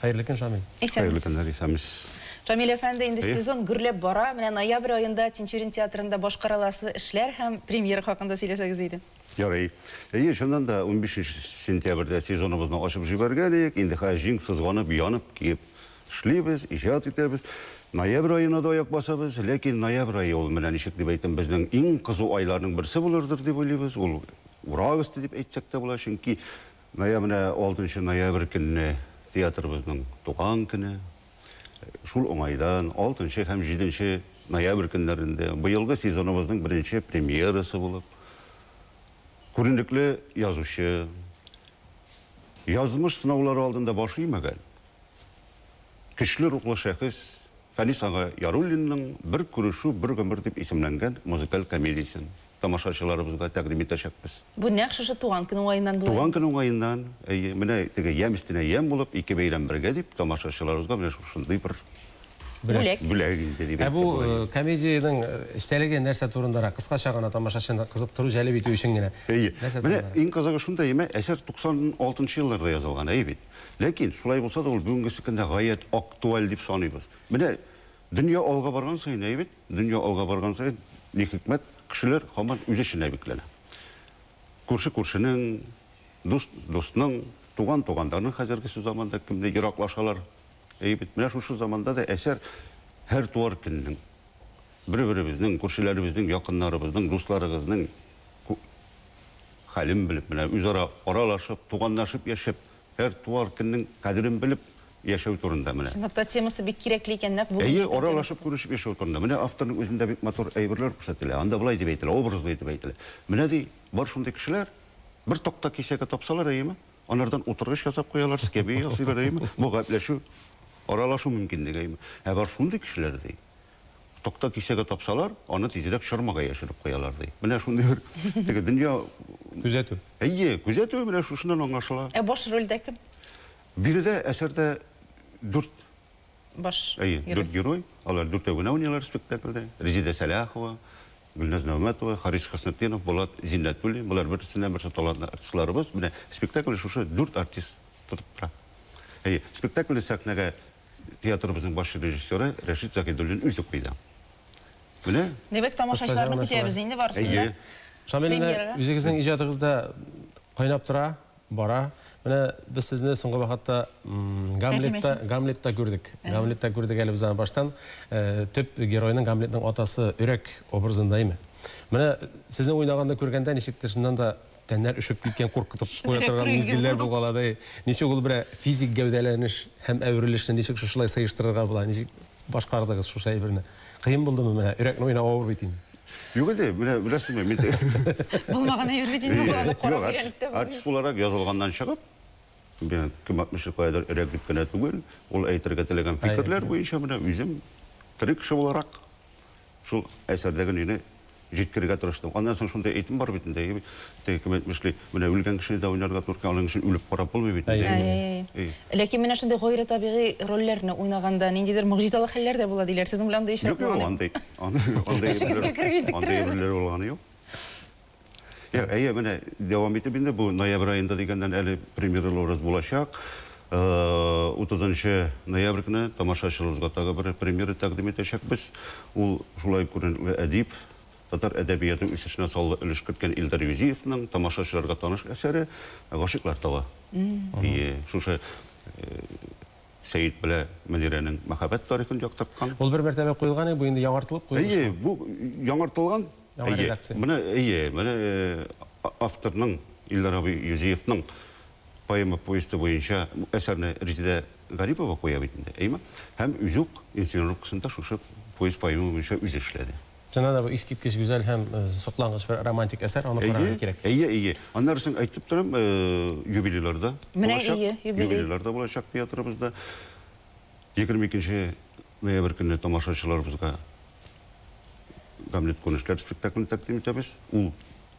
Хәерле көн, Шамил. Хәерле көннәр, исәнмесез. Шамил әфәнде, инде сезон гөрләп бара. Менә ноябрь аенда Тинчурин театрында башкарыласы эшләр һәм премьера хакында сөйләсәгез иде. Ярый. Әйе, чыннан да, унбишенче сентябрьдә сезоныбызны ачып җибәргән идек. Инде хәзер җиң сызганып, янып, киеп эшлибез, иҗат итәбез. Ноябрь аена да аяк басабыз. Ләкин ноябрь ае ул, менә ничек дип әйтим, безнең иң кызу айларның берсе булырдыр дип уйлыйбыз. Ул Урак өсте дип әйтсәк тә була, чөнки Гая менә алтынчы ноябрь көнне театрыбызның туган көне. Шул уңайдан алтынчы һәм җиденче ноябрь көннәрендә быелгы сезоныбызның беренче премьерасы булып, күренекле язучы, язмыш сынаулары алдында баш имәгән, Көчле рухлы шәхес Фәнис ага Яруллинның Бер күрешү, бер гомер дип исемләнгән музыкаль комедиясен тамашачыларыбызга тәкъдим итәчәкбез. Бу нәкъ шушы туган көн уңаеннан була инде. Туган көн уңаеннан, әйе, менә теге ямь өстенә ямь булып, ике бәйрәм бергә дип, тамашачыларыбызга менә шушындый бер Бүләк. Бүләк инде дип Ә бу әйтсәк була. комедиянең эчтәлеге нәрсә турындарак? Кыскача гына, тамашачыны кызыктыру, җәлеп итү өчен генә. Әйе. Нәрсә Менә турындарак? иң кызыгы шунда, әмма әсәр 96 нчы елларда язылган, әйе бит? Ләкин, шулай булса да, ул бүгенге секөндә гаять актуаль дип саныйбыз. Менә дөнья алга барган саен, әйе бит? Дөнья алга барган саен, ни хикмәт, кешеләр һаман үз эченә бикләнә. Күрше күршенең, дус дусның, туган тугандарның хәзергесе заманда кемне ераклашалар, әйе бит? Менә шушы заманда да әсәр һәр туар көннең, бер-беребезнең, күршеләребезнең, якыннарыбызның, дусларыгызның, хәлен белеп, менә үзара аралашып, туганнашып яшәп, һәр туар көннең кадерен белеп яшәү турында менә. Чынлап та темасы бик кирәкле икән, нәкъ бүген. Әйе, аралашып күрешеп яшәү турында. Менә авторның үзендә бик матур әйберләр күрсәтелә. Анда болай дип әйтелә, образлы итеп әйтелә. Менә ди, бар шундый кешеләр, бер такта кисәге тапсалар, әйеме, анардан утыргыч ясап куялар, скамья ясыйлар, әйеме, бу гаепләшү, аралашу мөмкинлеге, әйеме. Ә бар шундый кешеләр, ди. Такта кисәге тапсалар, аны тизрәк чормага яшереп куялар, ди. Менә шундый бер теге дөнья Күзәтү. Әйе, күзәтү менә шушыннан аңлашыла. Ә баш рольдә кем? Биредә әсәрдә дүрт Баш Әйе, герой. дүрт герой. Алар дүртәү генә уйныйлар спектакльдә. Резидә Сәлахова, Гөлназ Нәүмәтова, Харис Хөснетдинов, Булат Зиннәтуллин. Болар берсеннән-берсе талантлы артистларыбыз. Менә спектакльне шушы дүрт артист тотып тора. Әйе, спектакльне сәхнәгә театрыбызның баш режиссеры Рәшит Заһидуллин үзе куйды. Менә. Димәк, тамашачыларны көтәбез инде барысын да. Әйе. Шамил, менә үзегезнең иҗатыгыз да кайнап тора, бара. Менә без сезне соңгы вакытта Гамлетта, Гамлетта күрдек. Гамлетта күрдек әле без аны баштан. Төп геройның, Гамлетның атасы Өрәк образында име. Менә сезнең уйнаганны күргәндә, ничектер, чыннан да Тәннәр өшеп киткән, куркытып куя торган мизгелләр булган ала ди. Ничек ул берәр физик гәүдәләнеш һәм әверелешне ничек шушылай сыештырырга була? Ничек башкардыгыз шушы әйберне? Кыен булдымы менә? Йөрәкне уйнау авыр бит инде. Юк инде, менә беләсезме, мин дә. Булмаган әйбер бит инде ул, аны карап өйрәнеп тә булмый. Артист буларак язылганнан чыгып, менә кем әйтмешли, каядыр өрәк дип кенә түгел, ул әйтергә теләгән фикерләр буенча менә үзем тере кеше буларак шул әсәрдәге нине, җиткерергә тырыштым. Аннан соң шундый әйтем бар бит инде, теге кем әйтмешли, менә үлгән кешене дә уйнарга туры килә, аның өчен үлеп карап булмый бит инде. Әй-әй-әй. Ләкин менә шундый гайре табигый рольләрне уйнаганда ниндидер могҗизалы хәлләр дә була диләр. Сезнең белән андый очрак булган? Юк-юк, андый, андый. Төшегезгә кереп интектермәде. Андый рольләр булганы юк. Әйе, менә дәвам итеп инде бу ноябрь аенда дигәннән әле премьералы урыс булачак. Утызынчы ноябрь көне тамашачыларыбызга тагы бер премьера тәкъдим итәчәкбез. Ул, шулай ук күренекле әдип, татар әдәбияты үсешенә саллы өлеш керткән Илдар Юзиевның тамашачыларга таныш әсәре Гашыйклар тавы. Әйе, шушы Сәет белә Мөнирәнең мәхәббәт тарихын яктырткан. Ул бер мәртәбә куелган иде, бу инде яңартылып куелышмы? Әйе, бу яңартылган. Яңа редакция. Әйе, менә авторның, Илдар абый Юзиевның. поэма повесте буенча әсәрне Резидә Гарипова куя бит инде, әйеме? Һәм үзе үк инсценировкасын да шушы повесть-поэма буенча үзе эшләде. Чыннан да бу искиткеч гүзәл һәм соклангыч бер романтик әсәр, аны карарга кирәк. Әйе, әйе, әйе. Аннары соң әйтеп торам, юбилейларда булачак. Менә ие, юбилей. Юбилейларда булачак театрыбызда. 22 ноябрь көнне тамашачыларыбызга Гамлет күренешләре спектаклен тәкъдим итәбез. Ул.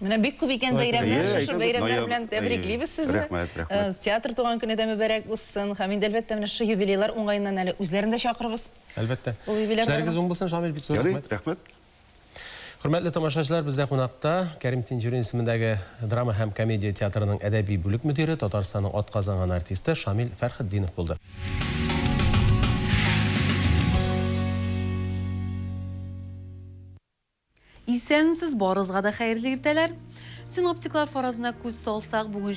Менә бик күп икән бәйрәмнәр, шушы бәйрәмнәр белән тәбриклибез сезне. Рәхмәт, рәхмәт. Театр туган көне дә мөбарәк узсын. Һәм инде, әлбәттә, менә шушы юбилейлар уңаеннан әле үзләрен дә чакырырбыз. Әлбәттә. Эшләрегез уң булсын, Шамил, бик зур рәхмәт. Ярый, рәхмәт. Хөрмәтле тамашачылар, бездә кунакта Кәрим Тинчурин исемендәге драма һәм комедия театрының әдәби бүлек мөдире, Татарстанның атказанган артисты Шамил Фәрхетдинов булды. Исәнмсез, барыгызга да хәерле иртәләр! Синоптиклар фаразына күз салсак, бүген,